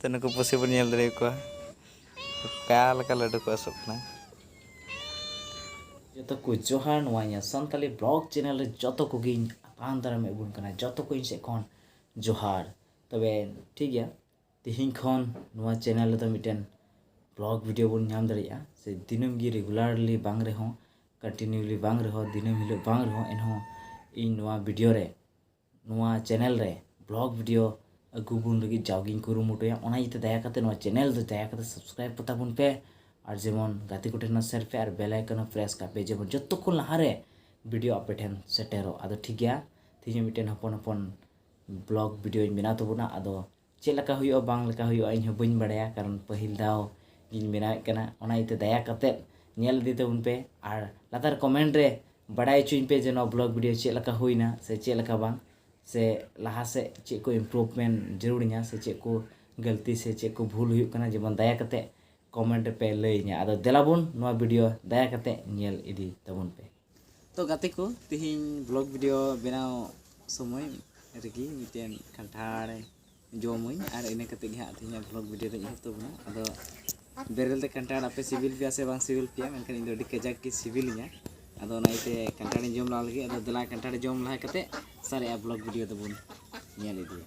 ᱛᱚ ᱱᱩᱠᱩ ᱯᱩᱥᱤ ᱵᱚᱱ ᱧᱮᱞ ᱫᱟᱲᱮ ᱟᱠᱚᱣᱟ ᱚᱠᱟ ᱞᱮᱠᱟ ᱞᱟᱹᱰᱩ ᱠᱚ ᱟᱹᱥᱩᱜ ᱠᱟᱱᱟ ᱡᱚᱛᱚ ᱠᱚ ᱡᱚᱦᱟᱨ ᱱᱚᱣᱟ ᱤᱧᱟᱹᱜ ᱥᱟᱱᱛᱟᱞᱤ ᱵᱞᱚᱜ ᱪᱮᱱᱮᱞ ᱨᱮ ᱡᱚᱛᱚ ᱠᱚᱜᱮᱧ ᱟᱛᱟᱝ ᱫᱟᱨᱟᱢ ᱟᱹᱜᱩᱱ ᱠᱟᱱᱟ ᱡᱚᱛᱚ ᱠᱚ ᱤᱧ ᱥᱮᱫ ᱠᱷᱚᱱ ᱡᱚᱦᱟᱨ ᱛᱚᱵᱮ ᱴᱷᱤᱠ ᱜᱮᱭᱟ ᱛᱮᱦᱮᱧ ᱠᱷᱚᱱ ᱱᱚᱣᱟ ᱪᱮᱱᱮᱞ ᱨᱮᱫᱚ ᱢᱤᱫᱴᱮᱱ ᱵᱞᱚᱜ ᱵᱷᱤᱰᱤᱭᱳ ᱵᱚᱱ ᱧᱟᱢ ᱫᱟᱲᱮᱭᱟᱜᱼᱟ ᱥᱮ ᱫᱤᱱᱟᱹᱢ ᱜᱮ ᱨᱮᱜᱩᱞᱟᱨᱞᱤ ᱵᱟᱝ ᱨᱮᱦᱚᱸ ᱠᱚᱱᱴᱤᱱᱤᱭᱩᱞᱤ ᱵᱟᱝ ᱨᱮᱦᱚᱸ ᱫᱤᱱᱟᱹᱢ ᱦᱤᱞᱳᱜ ᱵᱟᱝ ᱨᱮᱦᱚᱸ ᱮᱱᱦᱚᱸ ᱤᱧ ᱱᱚᱣᱟ ᱵᱷᱤᱰᱤᱭᱳ ᱨᱮ ᱱᱚᱣᱟ ᱪᱮᱱᱮᱞ ᱨᱮ ᱵᱞᱚᱜ ᱵᱷᱤᱰᱤᱭᱳ ᱟᱹᱜᱩ ᱵᱚᱱ ᱞᱟᱹᱜᱤᱫ ᱡᱟᱣᱜᱮᱧ ᱠᱩᱨᱩᱢᱩᱴᱩᱭᱟ ᱚᱱᱟ ᱤᱭᱟᱹᱛᱮ ᱫᱟᱭᱟ ᱠᱟᱛᱮ ᱱᱚᱣᱟ ᱪᱮᱱᱮᱞ ᱫᱚ ᱫᱟᱭᱟ ᱠᱟᱛᱮ ᱥᱟᱵᱥᱠᱨᱟᱭᱤᱵ ᱠᱟᱛᱟ ᱵᱚᱱ ᱯᱮ ᱟᱨ ᱡᱮᱢᱚᱱ ᱜᱟᱛᱮ ᱠᱚᱴᱷᱮᱱ ᱦᱚᱸ ᱥᱮᱭᱟᱨ ᱯᱮ ᱟᱨ ᱵᱮᱞ ᱟᱭᱠᱚᱱ ᱦᱚᱸ ᱯᱨᱮᱥ ᱠᱟᱜ ᱯᱮ ᱡᱮᱢᱚᱱ ᱡᱚᱛᱚ ᱠᱷᱚᱱ ᱞᱟᱦᱟᱨᱮ ᱵᱷᱤᱰᱤᱭᱳ ᱟᱯᱮ ᱴᱷᱮᱱ ᱥᱮᱴᱮᱨᱚᱜ ᱟᱫᱚ ᱴᱷᱤᱠ ᱜᱮᱭᱟ ᱛᱮᱦᱮᱧ ᱢᱤᱫᱴᱮᱱ ᱦᱚᱯᱚᱱ ᱦᱚᱯᱚᱱ ᱵᱞᱚᱜ ᱵᱷᱤᱰᱤᱭᱳᱧ ᱵᱮᱱᱟᱣ ᱛᱟᱵᱚᱱᱟ ᱟᱫᱚ ᱪᱮᱫ ᱞᱮᱠᱟ ᱦᱩᱭᱩᱜᱼᱟ ᱵᱟᱝ ᱞᱮᱠᱟ ᱦᱩᱭᱩᱜᱼᱟ ᱤᱧ ᱦᱚᱸ ᱵᱟᱹᱧ ᱵᱟᱲᱟᱭᱟ ᱠᱟᱨᱚᱱ ᱯᱟᱹᱦᱤᱞ ᱫᱷᱟᱣ ᱜᱤᱧ ᱵᱮᱱᱟᱣᱮᱫ ᱠᱟᱱᱟ ᱚᱱᱟ ᱤᱭᱟᱹᱛᱮ ᱫᱟᱭᱟ ᱠᱟᱛᱮᱫ ᱧᱮᱞ ᱤᱫᱤ ᱛᱟᱵᱚᱱ ᱯᱮ ᱟᱨ ᱞᱟᱛᱟᱨ ᱠᱚᱢᱮᱱᱴ ᱨᱮ ᱵᱟᱰᱟᱭ ᱦᱚᱪᱚᱧ ᱯᱮ ᱡᱮ ᱱᱚᱣᱟ ᱵᱞᱚᱜᱽ ᱵᱷᱤᱰᱭᱳ ᱪᱮᱫ ᱞᱮᱠᱟ ᱦᱩᱭᱱᱟ ᱥᱮ ᱪᱮᱫ ᱞᱮᱠᱟ ᱵᱟᱝ ᱥᱮ ᱞᱟᱦᱟ ᱥᱮᱫ ᱪᱮᱫ ᱠᱚ ᱤᱢᱯᱨᱩᱵᱷᱢᱮᱱᱴ ᱡᱟᱹᱨᱩᱲᱤᱧᱟ ᱥᱮ ᱪᱮᱫ ᱠᱚ ᱜᱟᱹᱞᱛᱤ ᱥᱮ ᱪᱮᱫ ᱠᱚ ᱵᱷᱩᱞ ᱦᱩᱭᱩᱜ ᱠᱟᱱᱟ ᱡᱮᱢᱚᱱ ᱫᱟᱭᱟ ᱠᱟᱛᱮᱫ ᱠᱚᱢᱮᱱᱴ ᱨᱮᱯᱮ ᱞᱟᱹᱭᱟᱹᱧᱟ ᱟᱫᱚ ᱫᱮᱞᱟ ᱵᱚᱱ ᱱᱚᱣᱟ ᱵᱷᱤᱰᱭᱳ ᱫᱟᱭᱟ ᱠᱟᱛᱮᱫ ᱧᱮᱞ ᱤᱫᱤ ᱛᱟᱵᱚᱱ ᱯᱮ ᱛᱚ ᱜᱟᱛᱮ ᱠᱚ ᱛᱮᱦᱮᱧ ᱵᱞᱚᱜ ᱵᱷᱤᱰᱤᱭᱳ ᱵᱮᱱᱟᱣ ᱥᱚᱢᱚᱭ ᱨᱮᱜᱮ ᱢᱤᱫᱴᱮᱱ ᱠᱟᱱᱴᱷᱟᱲ ᱡᱚᱢᱟᱹᱧ ᱟᱨ ᱤᱱᱟᱹ ᱠᱟᱛᱮ ᱜᱮ ᱦᱟᱸᱜ ᱛᱮᱦᱮᱧᱟᱜ ᱵᱞᱚᱜ ᱵᱷᱤᱰᱤᱭᱳ ᱫᱚᱧ ᱮᱦᱚᱵ ᱛᱟᱵᱚᱱᱟ ᱟᱫᱚ ᱵᱮᱨᱮᱞ ᱛᱮ ᱠᱟᱱᱴᱷᱟᱲ ᱟᱯᱮ ᱥᱤᱵᱤᱞ ᱯᱮᱭᱟ ᱥᱮ ᱵᱟᱝ ᱥᱤᱵᱤᱞ ᱯᱮᱭᱟ ᱢᱮᱱᱠᱷᱟᱱ ᱤᱧ ᱫᱚ ᱟᱹᱰᱤ ᱠᱟᱡᱟᱠ ᱜᱮ ᱥᱤᱵᱤᱞᱤᱧᱟ ᱟᱫᱚ ᱚᱱᱟ ᱤᱭᱟᱹᱛᱮ ᱠᱟᱱᱴᱷᱟᱲᱤᱧ ᱡᱚᱢ ᱞᱟᱦᱟ ᱞᱟᱹᱜᱤᱫ ᱟᱫᱚ ᱫᱮᱞᱟ ᱠᱟᱱᱴᱷᱟᱲ ᱡᱚᱢ ᱞᱟᱦᱟ ᱠᱟᱛᱮ ᱥᱟᱨᱮᱡᱟᱜ ᱵᱞᱚᱜ ᱵᱷᱤᱰᱤᱭᱳ ᱫᱚᱵᱚᱱ ᱧᱮᱞ ᱤᱫᱤᱭᱟ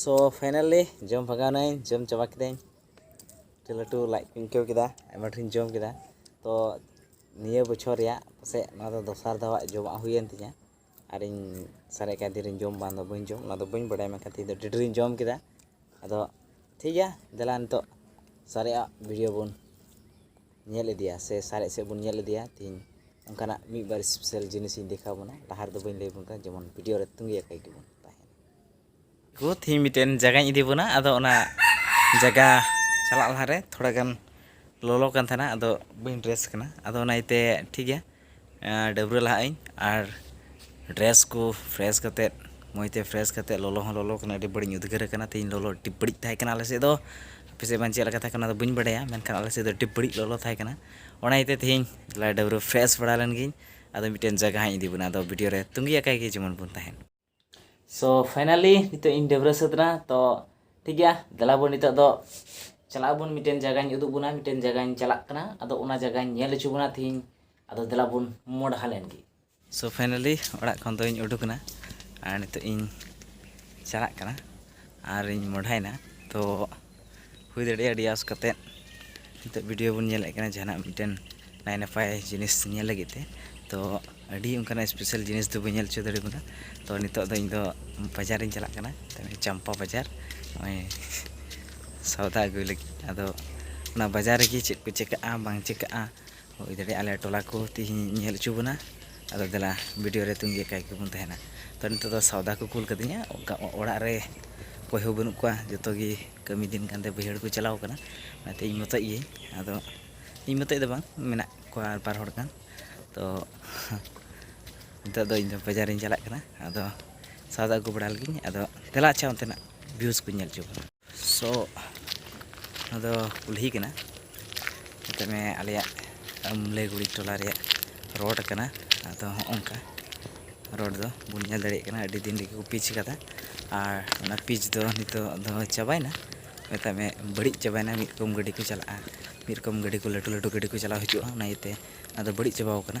ᱥᱳ ᱯᱷᱟᱭᱱᱟᱞᱤ ᱡᱚᱢ ᱵᱷᱟᱜᱟᱣᱱᱟᱹᱧ ᱡᱚᱢ ᱪᱟᱵᱟ ᱠᱤᱫᱟᱹᱧ ᱟᱹᱰᱤ ᱞᱟᱹᱴᱩ ᱞᱟᱡ ᱠᱚᱧ ᱟᱹᱭᱠᱟᱹᱣ ᱠᱮᱫᱟ ᱟᱭᱢᱟ ᱰᱷᱮᱨᱤᱧ ᱡᱚᱢ ᱠᱮᱫᱟ ᱛᱚ ᱱᱤᱭᱟᱹ ᱵᱚᱪᱷᱚᱨ ᱨᱮᱭᱟᱜ ᱯᱟᱥᱮᱡ ᱱᱚᱣᱟ ᱫᱚ ᱫᱚᱥᱟᱨ ᱫᱷᱟᱣᱟᱜ ᱡᱚᱢᱟᱜ ᱦᱩᱭᱮᱱ ᱛᱤᱧᱟᱹ ᱟᱨᱤᱧ ᱥᱟᱨᱮᱡ ᱠᱟᱜ ᱛᱤᱨᱤᱧ ᱡᱚᱢ ᱵᱟᱝ ᱫᱚ ᱵᱟᱹᱧ ᱡᱚᱢ ᱚᱱᱟ ᱫᱚ ᱵᱟᱹᱧ ᱵᱟᱲᱟᱭᱟ ᱢᱮᱱᱠᱷᱟᱱ ᱛᱮᱦᱮᱧ ᱫᱚ ᱟᱹᱰᱤ ᱰᱷᱮᱨᱤᱧ ᱡᱚᱢ ᱠᱮᱫᱟ ᱟᱫᱚ ᱴᱷᱤᱠ ᱜᱮᱭᱟ ᱫᱮᱞᱟ ᱱᱤᱛᱚᱜ ᱥᱟᱨᱮᱡᱟᱜ ᱵᱷᱤᱰᱤᱭᱳ ᱵᱚᱱ ᱧᱮᱞ ᱤᱫᱤᱭᱟ ᱥᱮ ᱥᱟᱨᱮᱡ ᱥᱮᱫ ᱵᱚᱱ ᱧᱮᱞ ᱤᱫᱤᱭᱟ ᱛᱮᱦᱮᱧ ᱚᱱᱠᱟᱱᱟᱜ ᱢᱤᱫ ᱵᱟᱨ ᱥᱯᱮᱥᱟᱞ ᱡᱤᱱᱤᱥ ᱤᱧ ᱫᱮᱠᱷᱟᱣ ᱵᱚᱱᱟ ᱞᱟᱦᱟ ᱨᱮᱫᱚ ᱵᱟᱹᱧ ᱞᱟᱹᱭ ᱵᱚᱱ ᱠᱟᱱᱟ ᱡᱮᱢᱚᱱ ᱵᱷᱤᱰᱤᱭᱳ ᱨᱮ ᱛᱩᱸᱜᱮ ᱟᱠᱟᱭ ᱜᱮᱵᱚᱱ ᱛᱟᱦᱮᱱᱟ ᱠᱚ ᱛᱮᱦᱮᱧ ᱢᱤᱫᱴᱮᱱ ᱡᱟᱭᱜᱟᱧ ᱤᱫᱤ ᱵᱚᱱᱟ ᱟᱫᱚ ᱚᱱᱟ ᱡᱟᱭᱜᱟ ᱪᱟᱞᱟᱜ ᱞᱟᱦᱟᱨᱮ ᱛᱷᱚᱲᱟ ᱜᱟᱱ ᱞᱚᱞᱚ ᱠᱟᱱ ᱛᱟᱦᱮᱱᱟ ᱟᱫᱚ ᱵᱟᱹᱧ ᱰᱨᱮᱥ ᱠᱟᱱᱟ ᱟᱫᱚ ᱚᱱᱟ ᱤᱭᱟᱹᱛᱮ ᱴᱷᱤᱠ ᱜᱮᱭᱟ ᱰᱟᱹᱵᱽᱨᱟᱹ ᱞᱟᱦᱟᱜ ᱟᱹᱧ ᱟᱨ ᱰᱨᱮᱥ ᱠᱚ ᱯᱷᱨᱮᱥ ᱠᱟᱛᱮ ᱢᱚᱡᱽ ᱛᱮ ᱯᱷᱨᱮᱥ ᱠᱟᱛᱮ ᱞᱚᱞᱚ ᱦᱚᱸ ᱞᱚᱞᱚ ᱠᱟᱱᱟ ᱟᱹᱰᱤ ᱵᱟᱹᱲᱤᱡ ᱤᱧ ᱩᱫᱽᱜᱟᱹᱨ ᱠᱟᱱᱟ ᱛᱮᱦᱮᱧ ᱞᱚᱞᱚ ᱟᱹᱰᱤ ᱵᱟᱹᱲᱤᱡ ᱛᱟᱦᱮᱸ ᱠᱟᱱᱟ ᱟᱞᱮ ᱥᱮᱫ ᱫᱚ ᱟᱯᱮ ᱥᱮᱫ ᱵᱟᱝ ᱪᱮᱫ ᱞᱮᱠᱟ ᱛᱟᱦᱮᱸ ᱠᱟᱱᱟ ᱚᱱᱟ ᱫᱚ ᱵᱟᱹᱧ ᱵᱟᱲᱟᱭᱟ ᱢᱮᱱᱠᱷᱟᱱ ᱟᱞᱮ ᱥᱮᱫ ᱫᱚ ᱟᱹᱰᱤ ᱵᱟᱹᱲᱤᱡ ᱞᱚᱞᱚ ᱛᱟᱦᱮᱸ ᱠᱟᱱᱟ ᱚᱱᱟ ᱤᱭᱟᱹᱛᱮ ᱛᱮᱦᱮᱧ ᱰᱟᱹᱵᱽᱨᱟᱹ ᱯᱷᱨᱮᱥ ᱵᱟᱲᱟ ᱞᱮᱱ ᱜᱤᱧ ᱟᱫᱚ ᱢᱤᱫᱴᱮᱱ ᱡᱟᱭᱜᱟ ᱦᱟᱸᱜ ᱤᱧ ᱤᱫᱤ ᱵᱚᱱᱟ ᱟᱫᱚ ᱵᱷᱤᱰᱤᱭᱳ ᱨᱮ ᱛᱟᱹᱜᱤ ᱟᱠᱟᱫ ᱜᱮ ᱡᱮᱢᱚᱱ ᱵᱚᱱ ᱛᱟᱦᱮᱱ ᱥᱚ ᱯᱷᱟᱭᱱᱟᱞᱤ ᱱᱤᱛᱚᱜ ᱤᱧ ᱰᱟᱹᱵᱽᱨᱟᱹ ᱥᱟᱹᱛ ᱮᱱᱟ ᱛᱚ ᱴᱷᱤᱠ ᱜᱮᱭᱟ ᱫᱮᱞᱟ ᱵᱚᱱ ᱱᱤᱛᱚᱜ ᱫᱚ ᱪᱟᱞᱟᱜ ᱟᱵᱚᱱ ᱢᱤᱫᱴᱮᱱ ᱡᱟᱭᱜᱟᱧ ᱩᱫᱩᱜ ᱵᱚᱱᱟ ᱢᱤᱫᱴᱮᱱ ᱡᱟᱭᱜᱟᱧ ᱪᱟᱞᱟᱜ ᱠᱟᱱᱟ ᱟᱫᱚ ᱚᱱᱟ ᱡᱟᱭᱜᱟᱧ ᱧᱮᱞ ᱦᱚᱪᱚ ᱵᱚᱱᱟ ᱛᱤᱦᱤᱧ ᱟᱫᱚ ᱫᱮᱞᱟ ᱵᱚᱱ ᱢᱚᱰᱦᱟ ᱞᱮᱱ ᱜᱮ ᱥᱚ ᱯᱷᱟᱭᱱᱟᱞᱤ ᱚᱲᱟᱜ ᱠᱷᱚᱱ ᱫᱚᱧ ᱩᱰᱩᱠ ᱮᱱᱟ ᱟᱨ ᱱᱤᱛᱚᱜ ᱤᱧ ᱪᱟᱞᱟᱜ ᱠᱟᱱᱟ ᱟᱨᱤᱧ ᱢᱚᱰᱦᱟᱭᱮᱱᱟ ᱛᱚ ᱦᱩᱭ ᱫᱟᱲᱮᱭᱟᱜᱼᱟ ᱟᱹᱰᱤ ᱟᱥ ᱠᱟᱛᱮᱫ ᱱᱤᱛᱚᱜ ᱵᱷᱤᱰᱤᱭᱳ ᱵᱚᱱ ᱧᱮᱞᱮᱫ ᱠᱟᱱᱟ ᱡᱟᱦᱟᱱᱟᱜ ᱢᱤᱫᱴᱮᱱ ᱱᱟᱭ ᱱᱟᱯᱟᱭ ᱡᱤᱱᱤᱥ ᱧᱮᱞ ᱞᱟᱹᱜᱤᱫ ᱛᱮ ᱛᱚ ᱟᱹᱰᱤ ᱚᱱᱠᱟᱱᱟᱜ ᱥᱯᱮᱥᱟᱞ ᱡᱤᱱᱤᱥ ᱫᱚ ᱵᱟᱹᱧ ᱧᱮᱞ ᱦᱚᱪᱚ ᱫᱟᱲᱮ ᱟᱵᱚᱱᱟ ᱛᱚ ᱱᱤᱛᱚᱜ ᱫᱚ ᱤᱧᱫᱚ ᱵᱟᱡᱟᱨ ᱤᱧ ᱪᱟᱞᱟᱜ ᱠᱟᱱᱟ ᱪᱟᱢᱯᱟ ᱵᱟᱡᱟᱨ ᱱᱚᱜᱼᱚᱸᱭ ᱥᱚᱣᱫᱟ ᱟᱹᱜᱩᱭ ᱞᱟᱹᱜᱤᱫ ᱟᱫᱚ ᱚᱱᱟ ᱵᱟᱡᱟᱨ ᱨᱮᱜᱮ ᱪᱮᱫ ᱠᱚ ᱪᱤᱠᱟᱹᱜᱼᱟ ᱵᱟᱝ ᱪᱤᱠᱟᱹᱜᱼᱟ ᱦᱩᱭ ᱫᱟᱲᱮᱭᱟᱜᱼᱟ ᱟᱞᱮ ᱴᱚᱞᱟ ᱠᱚ ᱛᱮᱦᱮᱧ ᱧᱮᱞ ᱦᱚᱪᱚ ᱵᱚᱱᱟ ᱟᱫᱚ ᱫᱮᱞᱟ ᱵᱷᱤᱰᱤᱭᱳ ᱨᱮ ᱛᱟᱺᱜᱤ ᱟᱠᱟᱫ ᱜᱮᱵᱚᱱ ᱛᱟᱦᱮᱱᱟ ᱛᱚ ᱱᱤᱛᱚᱜ ᱫᱚ ᱥᱚᱣᱫᱟ ᱠᱚ ᱠᱩᱞ ᱠᱟᱹᱫᱤᱧᱟ ᱚᱱᱠᱟ ᱚᱲᱟᱜ ᱨᱮ ᱚᱠᱚᱭ ᱦᱚᱸ ᱵᱟᱹᱱᱩᱜ ᱠᱚᱣᱟ ᱡᱚᱛᱚ ᱜᱮ ᱠᱟᱹᱢᱤ ᱫᱤᱱ ᱠᱟᱱᱛᱮ ᱵᱟᱹᱭᱦᱟᱹᱲ ᱠᱚ ᱪᱟᱞᱟᱣ ᱠᱟᱱᱟ ᱚᱱᱟᱛᱮ ᱤᱧ ᱢᱚᱛᱚᱡ ᱜᱤᱭᱟᱹᱧ ᱟᱫᱚ ᱤᱧ ᱢᱚᱛᱚᱡ ᱫᱚ ᱵᱟᱝ ᱢᱮᱱᱟᱜ ᱠᱚᱣᱟ ᱟᱨ ᱵᱟᱨ ᱦᱚᱲ ᱜᱟᱱ ᱛᱚ ᱱᱤᱛᱚᱜ ᱫᱚ ᱤᱧᱫᱚ ᱵᱟᱡᱟᱨ ᱤᱧ ᱪᱟᱞᱟᱜ ᱠᱟᱱᱟ ᱟᱫᱚ ᱥᱚᱣᱫᱟ ᱟᱹᱜᱩ ᱵᱟᱲᱟ ᱞᱮᱜᱤᱧ ᱟᱫᱚ ᱫᱮᱞᱟ ᱟᱪᱪᱷᱟ ᱚᱱᱛᱮᱱᱟᱜ ᱵᱷᱤᱭᱩᱥ ᱠᱚᱧ ᱧᱮᱞ ᱦᱚᱪᱚ ᱵᱚᱱᱟ ᱥᱚ ᱟᱫᱚ ᱠᱩᱞᱦᱤ ᱠᱟᱱᱟ ᱢᱮᱛᱟᱜ ᱢᱮ ᱟᱞᱮᱭᱟᱜ ᱟᱢᱞᱮᱜᱩᱲᱤ ᱴᱚᱞᱟ ᱨᱮᱭᱟᱜ ᱨᱳᱰ ᱠᱟᱱᱟ ᱟᱫᱚ ᱦᱚᱸᱜᱼᱚᱝᱠᱟ ᱨᱳᱰ ᱫᱚ ᱵᱚᱱ ᱧᱮᱞ ᱫᱟᱲᱮᱭᱟᱜ ᱠᱟᱱᱟ ᱟᱹᱰᱤ ᱫᱤᱱ ᱨᱮᱜᱮ ᱠᱚ ᱯᱤᱪ ᱠᱟᱫᱟ ᱟᱨ ᱚᱱᱟ ᱯᱤᱪ ᱫᱚ ᱱᱤᱛᱚᱜ ᱫᱚ ᱪᱟᱵᱟᱭᱮᱱᱟ ᱢᱮᱛᱟᱜ ᱢᱮ ᱵᱟᱹᱲᱤᱡ ᱪᱟᱵᱟᱭᱮᱱᱟ ᱢᱤᱫ ᱨᱚᱠᱚᱢ ᱜᱟᱹᱰᱤ ᱠᱚ ᱪᱟᱞᱟᱜᱼᱟ ᱢᱤᱫ ᱨᱚᱠᱚᱢ ᱜᱟᱹᱰᱤ ᱠᱚ ᱞᱟᱹᱴᱩ ᱞᱟᱹᱴᱩ ᱜᱟᱹᱰᱤ ᱠᱚ ᱪᱟᱞᱟᱣ ᱦᱤᱡᱩᱜᱼᱟ ᱚᱱᱟ ᱤᱭᱟᱹᱛᱮ ᱟᱫᱚ ᱵᱟᱹᱲᱤᱡ ᱪᱟᱵᱟᱣ ᱠᱟᱱᱟ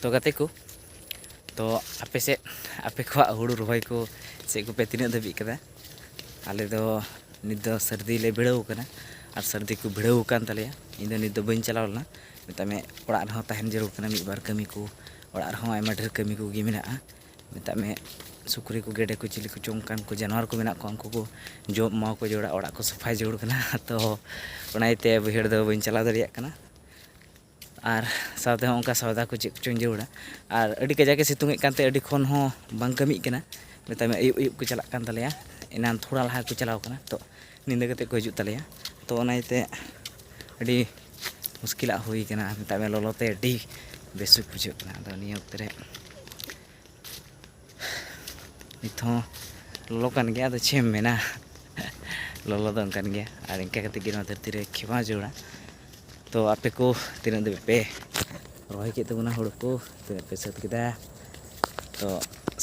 ᱛᱚ ᱜᱟᱛᱮ ᱠᱚ ᱛᱚ ᱟᱯᱮ ᱥᱮᱫ ᱟᱯᱮ ᱠᱚᱣᱟᱜ ᱦᱩᱲᱩ ᱨᱚᱦᱚᱭ ᱠᱚ ᱪᱮᱫ ᱠᱚᱯᱮ ᱛᱤᱱᱟᱹᱜ ᱫᱷᱟᱹᱵᱤᱡ ᱠᱟᱫᱟ ᱟᱞᱮ ᱫᱚ ᱱᱤᱛ ᱫᱚ ᱥᱟᱹᱨᱫᱤ ᱞᱮ ᱵᱷᱤᱲᱟᱹᱣ ᱠᱟᱱᱟ ᱟᱨ ᱥᱟᱹᱨᱫᱤ ᱠᱚ ᱵᱷᱤᱲᱟᱹᱣ ᱟᱠᱟᱱ ᱛᱟᱞᱮᱭᱟ ᱤᱧ ᱫᱚ ᱱᱤᱛ ᱫᱚ ᱵᱟᱹᱧ ᱪᱟᱞᱟᱣ ᱞᱮᱱᱟ ᱢᱮᱛᱟᱜ ᱢᱮ ᱚᱲᱟᱜ ᱨᱮᱦᱚᱸ ᱛᱟᱦᱮᱱ ᱡᱟᱹᱨᱩᱲ ᱠᱟᱱᱟ ᱢᱤᱫ ᱵᱟᱨ ᱠᱟᱹᱢᱤ ᱠᱚ ᱚᱲᱟᱜ ᱨᱮᱦᱚᱸ ᱟᱭᱢᱟ ᱰᱷᱮᱨ ᱠᱟᱹᱢᱤ ᱠᱚᱜᱮ ᱢᱮᱱᱟᱜᱼᱟ ᱢᱮᱛᱟᱜ ᱢᱮ ᱥᱩᱠᱨᱤ ᱠᱚ ᱜᱮᱰᱮ ᱠᱚ ᱪᱤᱞᱤ ᱠᱚᱪᱚ ᱚᱱᱠᱟᱱ ᱠᱚ ᱡᱟᱱᱣᱟᱨ ᱠᱚ ᱢᱮᱱᱟᱜ ᱠᱚᱣᱟ ᱩᱱᱠᱩ ᱠᱚ ᱡᱚᱢ ᱮᱢᱟᱣ ᱠᱚ ᱡᱟᱹᱨᱩᱲᱟ ᱚᱲᱟᱜ ᱠᱚ ᱥᱟᱯᱷᱟᱭ ᱡᱟᱹᱨᱩᱲ ᱠᱟᱱᱟ ᱛᱚ ᱚᱱᱟ ᱤᱭᱟᱹᱛᱮ ᱵᱟᱹᱭᱦᱟᱹᱲ ᱫᱚ ᱵᱟᱹᱧ ᱪᱟᱞᱟᱣ ᱫᱟᱲᱮᱭᱟᱜ ᱠᱟᱱᱟ ᱟᱨ ᱥᱟᱶᱛᱮ ᱦᱚᱸ ᱚᱱᱠᱟ ᱥᱚᱭᱫᱟ ᱠᱚ ᱪᱮᱫ ᱠᱚᱪᱚᱧ ᱡᱟᱹᱨᱩᱲᱟ ᱟᱨ ᱟᱹᱰᱤ ᱠᱟᱡᱟᱠ ᱮ ᱥᱤᱛᱩᱝ ᱮᱫ ᱠᱟᱱᱛᱮ ᱟᱹᱰᱤ ᱠᱷᱚᱱ ᱦᱚᱸ ᱵᱟᱝ ᱠᱟᱹᱢᱤᱜ ᱠᱟᱱᱟ ᱢᱮᱛᱟᱭ ᱢᱮ ᱟᱹᱭᱩᱵ ᱟᱹᱭᱩᱵ ᱠᱚ ᱪᱟᱞᱟᱜ ᱠᱟᱱ ᱛᱟᱞᱮᱭᱟ ᱮᱱᱟᱱ ᱛᱷᱚᱲᱟ ᱞᱟᱦᱟ ᱠᱚ ᱪᱟᱞᱟᱣ ᱠᱟᱱᱟ ᱛᱚ ᱧᱤᱫᱟᱹ ᱠᱟᱛᱮ ᱠᱚ ᱦᱤᱡᱩᱜ ᱛᱟᱞᱮᱭᱟ ᱛᱚ ᱚᱱᱟ ᱤᱭᱟᱹᱛᱮ ᱟᱹᱰᱤ ᱢᱩᱥᱠᱤᱞᱟᱜ ᱦᱩᱭ ᱠᱟᱱᱟ ᱢᱮᱛᱟᱜ ᱢᱮ ᱞᱚᱞᱚ ᱛᱮ ᱟᱹᱰᱤ ᱵᱮᱥᱩᱠ ᱵᱩᱡᱷᱟᱹᱜ ᱠᱟᱱᱟ ᱟᱫᱚ ᱱᱤᱭᱟᱹ ᱚᱠᱛᱮ ᱨᱮ ᱱᱤᱛ ᱦᱚᱸ ᱞᱚᱞᱚ ᱠᱟᱱ ᱜᱮᱭᱟ ᱟᱫᱚ ᱪᱮᱫ ᱮᱢ ᱢᱮᱱᱟ ᱞᱚᱞᱚ ᱫᱚ ᱚᱱᱠᱟᱱ ᱜᱮᱭᱟ ᱟᱨ ᱤᱱᱠᱟᱹ ᱠᱟᱛᱮ ᱜᱮ ᱱᱚᱣᱟ ᱫᱷᱟᱹᱨᱛᱤ ᱨᱮ ᱠᱷᱮᱢᱟᱣ ᱡᱟᱹᱨᱩᱲᱟ ᱛᱚ ᱟᱯᱮ ᱠᱚ ᱛᱤᱱᱟᱹᱜ ᱫᱷᱟᱹᱵᱤᱡ ᱯᱮ ᱨᱚᱦᱚᱭ ᱠᱮᱫ ᱛᱟᱵᱚᱱᱟ ᱦᱩᱲᱩ ᱠᱚ ᱛᱤᱱᱟᱹᱜ ᱯᱮ ᱥᱟᱹᱛ ᱠᱮᱫᱟ ᱛᱚ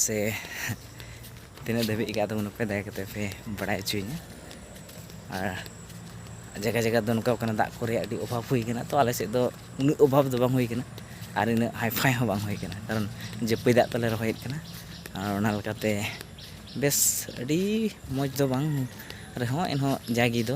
ᱥᱮ ᱛᱤᱱᱟᱹᱜ ᱫᱷᱟᱹᱵᱤᱡ ᱠᱟᱜ ᱛᱟᱵᱚᱱᱟ ᱯᱮ ᱫᱟᱭᱟ ᱠᱟᱛᱮ ᱯᱮ ᱵᱟᱲᱟᱭ ᱦᱚᱪᱚᱭᱤᱧᱟ ᱟᱨ ᱡᱟᱭᱜᱟ ᱡᱟᱭᱜᱟ ᱫᱚ ᱱᱚᱝᱠᱟ ᱠᱟᱱᱟ ᱫᱟᱜ ᱠᱚ ᱨᱮᱭᱟᱜ ᱟᱹᱰᱤ ᱚᱵᱷᱟᱵᱽ ᱦᱩᱭ ᱠᱟᱱᱟ ᱛᱚ ᱟᱞᱮ ᱥᱮᱫ ᱫᱚ ᱩᱱᱟᱹᱜ ᱚᱵᱷᱟᱵᱽ ᱫᱚ ᱵᱟᱝ ᱦᱩᱭ ᱠᱟᱱᱟ ᱟᱨ ᱤᱱᱟᱹᱜ ᱦᱟᱭᱯᱷᱟᱭ ᱦᱚᱸ ᱵᱟᱝ ᱦᱩᱭ ᱠᱟᱱᱟ ᱠᱟᱨᱚᱱ ᱡᱟᱹᱯᱟᱹᱭ ᱫᱟᱜ ᱛᱮᱞᱮ ᱨᱚᱦᱚᱭᱮᱫ ᱠᱟᱱᱟ ᱟᱨ ᱚᱱᱟ ᱞᱮᱠᱟᱛᱮ ᱵᱮᱥ ᱟᱹᱰᱤ ᱢᱚᱡᱽ ᱫᱚ ᱵᱟᱝ ᱨᱮᱦᱚᱸ ᱮᱱᱦᱚᱸ ᱡᱟᱜᱮ ᱫᱚ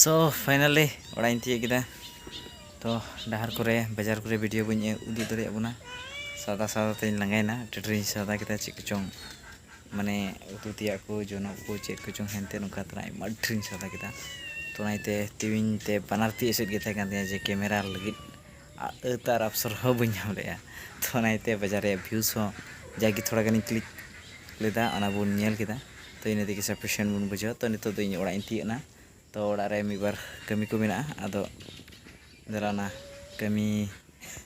ᱥᱳ ᱯᱷᱟᱭᱱᱟᱞᱤ ᱚᱲᱟᱜ ᱤᱧ ᱛᱤᱭᱳᱜ ᱠᱮᱫᱟ ᱛᱚ ᱰᱟᱦᱟᱨ ᱠᱚᱨᱮ ᱵᱟᱡᱟᱨ ᱠᱚᱨᱮ ᱵᱷᱤᱰᱤᱭᱳ ᱵᱟᱹᱧ ᱩᱫᱩᱜ ᱫᱟᱲᱮᱭᱟᱜ ᱵᱚᱱᱟ ᱥᱟᱫᱟ ᱥᱟᱫᱟ ᱛᱮᱧ ᱞᱟᱸᱜᱟᱭᱮᱱᱟ ᱴᱮᱴᱨᱤᱧ ᱥᱟᱫᱟ ᱠᱮᱫᱟ ᱪᱮᱫ ᱠᱚᱪᱚᱝ ᱢᱟᱱᱮ ᱩᱛᱩ ᱛᱮᱭᱟᱜ ᱠᱚ ᱡᱚᱱᱚᱜ ᱠᱚ ᱪᱮᱫ ᱠᱚᱪᱚᱝ ᱦᱮᱱᱛᱮ ᱱᱚᱝᱠᱟ ᱛᱮᱱᱟᱜ ᱟᱭᱢᱟ ᱰᱷᱮᱨᱤᱧ ᱥᱟᱫᱟ ᱠᱮᱫᱟ ᱛᱚ ᱚᱱᱟ ᱤᱭᱟᱹᱛᱮ ᱛᱤ ᱵᱟᱱᱟᱨ ᱛᱤ ᱮᱥᱮᱫ ᱜᱮ ᱛᱟᱦᱮᱸ ᱠᱟᱱ ᱛᱤᱧᱟᱹ ᱡᱮ ᱠᱮᱢᱮᱨᱟ ᱞᱟᱹᱜᱤᱫ ᱟᱹᱛ ᱟᱨ ᱟᱯᱥᱚᱨ ᱦᱚᱸ ᱵᱟᱹᱧ ᱧᱟᱢ ᱞᱮᱫᱼᱟ ᱛᱚ ᱚᱱᱟ ᱤᱭᱟᱹᱛᱮ ᱵᱟᱡᱟᱨ ᱨᱮᱭᱟᱜ ᱵᱷᱤᱭᱩᱥ ᱦᱚᱸ ᱡᱟᱜᱮ ᱛᱷᱚᱲᱟ ᱜᱟᱱᱤᱧ ᱠᱞᱤᱠ ᱞᱮᱫᱟ ᱚᱱᱟ ᱵᱚᱱ ᱧᱮᱞ ᱠᱮᱫᱟ ᱛᱚ ᱤᱱᱟᱹ ᱛᱮᱜᱮ ᱥᱟᱯᱷᱤᱥᱤᱭᱮᱱᱴ ᱵᱚᱱ ᱵᱩᱡᱷᱟᱹᱣᱟ ᱛᱚ ᱱᱤᱛᱚᱜ ᱫᱚ ᱤᱧ ᱚᱲᱟᱜ ᱤᱧ ᱛᱤᱭᱟᱹᱜ ᱮᱱᱟ ᱛᱚ ᱚᱲᱟᱜ ᱨᱮ ᱢᱤᱫ ᱵᱟᱨ ᱠᱟᱹᱢᱤ ᱠᱚ ᱢᱮᱱᱟᱜᱼᱟ ᱟᱫᱚ ᱫᱮᱞᱟ ᱱᱟ ᱠᱟᱹᱢᱤ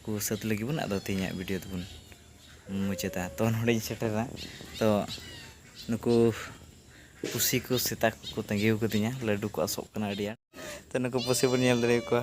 ᱠᱚ ᱥᱟᱹᱛ ᱞᱮᱜᱮ ᱵᱚᱱ ᱟᱫᱚ ᱛᱮᱦᱮᱧᱟᱜ ᱵᱷᱤᱰᱤᱭᱳ ᱫᱚᱵᱚᱱ ᱢᱩᱪᱟᱹᱫᱟ ᱛᱚ ᱱᱚᱰᱮᱧ ᱥᱮᱴᱮᱨᱮᱱᱟ ᱛᱚ ᱱᱩᱠᱩ ᱯᱩᱥᱤ ᱠᱚ ᱥᱮᱛᱟ ᱠᱚᱠᱚ ᱛᱟᱹᱜᱤᱣ ᱠᱟᱹᱫᱤᱧᱟ ᱞᱟᱹᱰᱩ ᱠᱚ ᱟᱥᱚᱜ ᱠᱟᱱᱟ ᱟᱹᱰᱤ ᱟᱸᱴ ᱛᱚ ᱱᱩᱠᱩ ᱯᱩᱥᱤ ᱵᱚᱱ ᱧᱮᱞ ᱫᱟᱲᱮᱭᱟᱠᱚᱣᱟ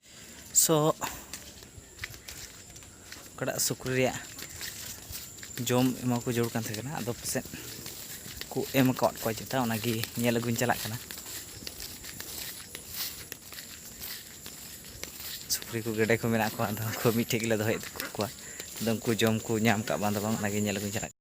ᱥᱚ ᱚᱠᱟᱴᱟᱜ ᱥᱩᱠᱨᱤ ᱨᱮᱭᱟᱜ ᱡᱚᱢ ᱮᱢᱟ ᱠᱚ ᱡᱟᱹᱨᱩᱲ ᱠᱟᱱ ᱛᱟᱦᱮᱸ ᱠᱟᱱᱟ ᱟᱫᱚ ᱯᱟᱥᱮᱡ ᱠᱚ ᱮᱢ ᱟᱠᱟᱫ ᱠᱚᱣᱟ ᱪᱮᱛᱟ ᱚᱱᱟᱜᱮ ᱧᱮᱞ ᱟᱹᱜᱩᱧ ᱪᱟᱞᱟᱜ ᱠᱟᱱᱟ ᱥᱩᱠᱨᱤ ᱠᱚ ᱜᱮᱰᱮ ᱠᱚ ᱢᱮᱱᱟᱜ ᱠᱚᱣᱟ ᱟᱫᱚ ᱩᱱᱠᱩ ᱢᱤᱫᱴᱷᱮᱡ ᱜᱮᱞᱮ ᱫᱚᱦᱚᱭᱮᱫ ᱠᱚᱣᱟ ᱟᱫᱚ ᱩᱱᱠᱩ ᱡᱚᱢ ᱠᱚ ᱧᱟᱢ ᱠᱟᱜ ᱵᱟᱝ ᱫᱚ ᱵᱟᱝ ᱚᱱᱟᱜᱮ ᱧᱮᱞ ᱟᱹᱜᱩᱧ ᱪᱟᱞᱟᱜ ᱠᱟᱱᱟ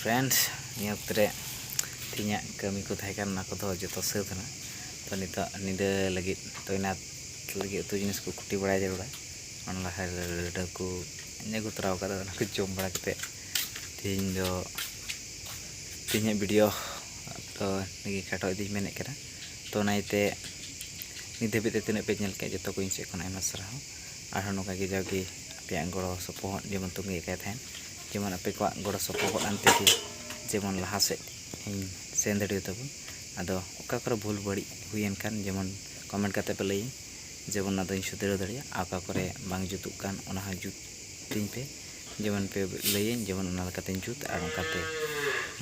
ᱯᱷᱨᱮᱱᱰ ᱱᱤᱭᱟᱹ ᱚᱠᱛᱚ ᱨᱮ ᱛᱤᱧᱟᱹᱜ ᱠᱟᱹᱢᱤ ᱠᱚ ᱛᱟᱦᱮᱸ ᱠᱟᱱᱟ ᱚᱱᱟ ᱠᱚᱫᱚ ᱡᱚᱛᱚ ᱥᱟᱹᱛ ᱮᱱᱟ ᱛᱚ ᱱᱤᱛᱚᱜ ᱧᱤᱫᱟᱹ ᱞᱟᱹᱜᱤᱫ ᱛᱚᱭᱱᱟᱛ ᱞᱟᱹᱜᱤᱫ ᱩᱛᱩ ᱡᱤᱱᱤᱥ ᱠᱚ ᱠᱩᱴᱤ ᱵᱟᱲᱟᱭ ᱡᱟᱹᱨᱩᱲᱟ ᱚᱱᱟ ᱞᱟᱦᱟ ᱞᱟᱹᱰᱩ ᱠᱚ ᱟᱹᱜᱩ ᱛᱚᱨᱟ ᱠᱟᱫᱟ ᱚᱱᱟ ᱠᱚ ᱡᱚᱢ ᱵᱟᱲᱟ ᱠᱟᱛᱮᱫ ᱛᱮᱦᱮᱧ ᱫᱚ ᱛᱮᱦᱮᱧᱟᱜ ᱵᱷᱤᱰᱤᱭᱳ ᱫᱚ ᱱᱤᱭᱟᱹ ᱠᱷᱟᱴᱚ ᱤᱫᱤᱧ ᱢᱮᱱᱮᱫ ᱠᱟᱱᱟ ᱛᱚ ᱚᱱᱟ ᱤᱭᱟᱹᱛᱮ ᱱᱤᱛ ᱫᱷᱟᱹᱵᱤᱡ ᱛᱮ ᱛᱤᱱᱟᱹᱜ ᱯᱮ ᱧᱮᱞ ᱠᱮᱫ ᱡᱚᱛᱚ ᱠᱚ ᱤᱧ ᱥᱮᱫ ᱠᱷᱚᱱ ᱟᱭᱢᱟ ᱥᱟᱨᱦᱟᱣ ᱟᱨᱦᱚᱸ ᱱᱚᱝᱠᱟ ᱜᱮ ᱡᱟᱣᱜᱮ ᱟᱯᱮᱭᱟᱜ ᱜᱚᱲᱚ ᱥᱚᱯᱚᱦᱚᱫ ᱡᱮᱢᱚᱱ ᱛᱟᱹᱜᱤ ᱟᱠᱟᱫ ᱛᱟᱦᱮᱱ ᱡᱮᱢᱚᱱ ᱟᱯᱮ ᱠᱚᱣᱟᱜ ᱜᱚᱲᱚ ᱥᱚᱯᱚᱦᱚᱫ ᱟᱱ ᱛᱮᱜᱮ ᱡᱮᱢᱚᱱ ᱞᱟᱦᱟ ᱥᱮᱫ ᱤᱧ ᱥᱮᱱ ᱫᱟᱲᱮ ᱟᱛᱟᱵᱚᱱ ᱟᱫᱚ ᱚᱠᱟ ᱠᱚᱨᱮ ᱵᱷᱩᱞ ᱵᱟᱹᱲᱤᱡ ᱦᱩᱭᱮᱱ ᱠᱷᱟᱱ ᱡᱮᱢᱚᱱ ᱠᱚᱢᱮᱱᱴ ᱠᱟᱛᱮ ᱯᱮ ᱞᱟᱹᱭᱟᱹᱧ ᱡᱮᱢᱚᱱ ᱚᱱᱟ ᱫᱚᱧ ᱥᱩᱫᱷᱨᱟᱹᱣ ᱫᱟᱲᱮᱭᱟᱜ ᱟᱨ ᱚᱠᱟ ᱠᱚᱨᱮ ᱵᱟᱝ ᱡᱩᱛᱩᱜ ᱠᱟᱱ ᱚᱱᱟ ᱦᱚᱸ ᱡᱩᱛ ᱛᱤᱧ ᱯᱮ ᱡᱮᱢᱚᱱ ᱯᱮ ᱞᱟᱹᱭᱟᱹᱧ ᱡᱮᱢᱚᱱ ᱚᱱᱟ ᱞᱮᱠᱟᱛᱮᱧ ᱡᱩᱛ ᱟᱨ ᱚᱱᱠᱟᱛᱮ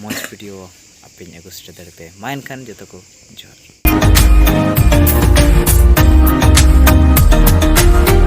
ᱢᱚᱡᱽ ᱵᱷᱤᱰᱤᱭᱳ ᱟᱯᱮᱧ ᱟᱹᱜᱩ ᱥᱮᱴᱮᱨ ᱫᱟᱲᱮ ᱯᱮ ᱢᱟ ᱮᱱᱠᱷᱟᱱ ᱡᱚᱛᱚ ᱠᱚ ᱡᱚᱦᱟᱨ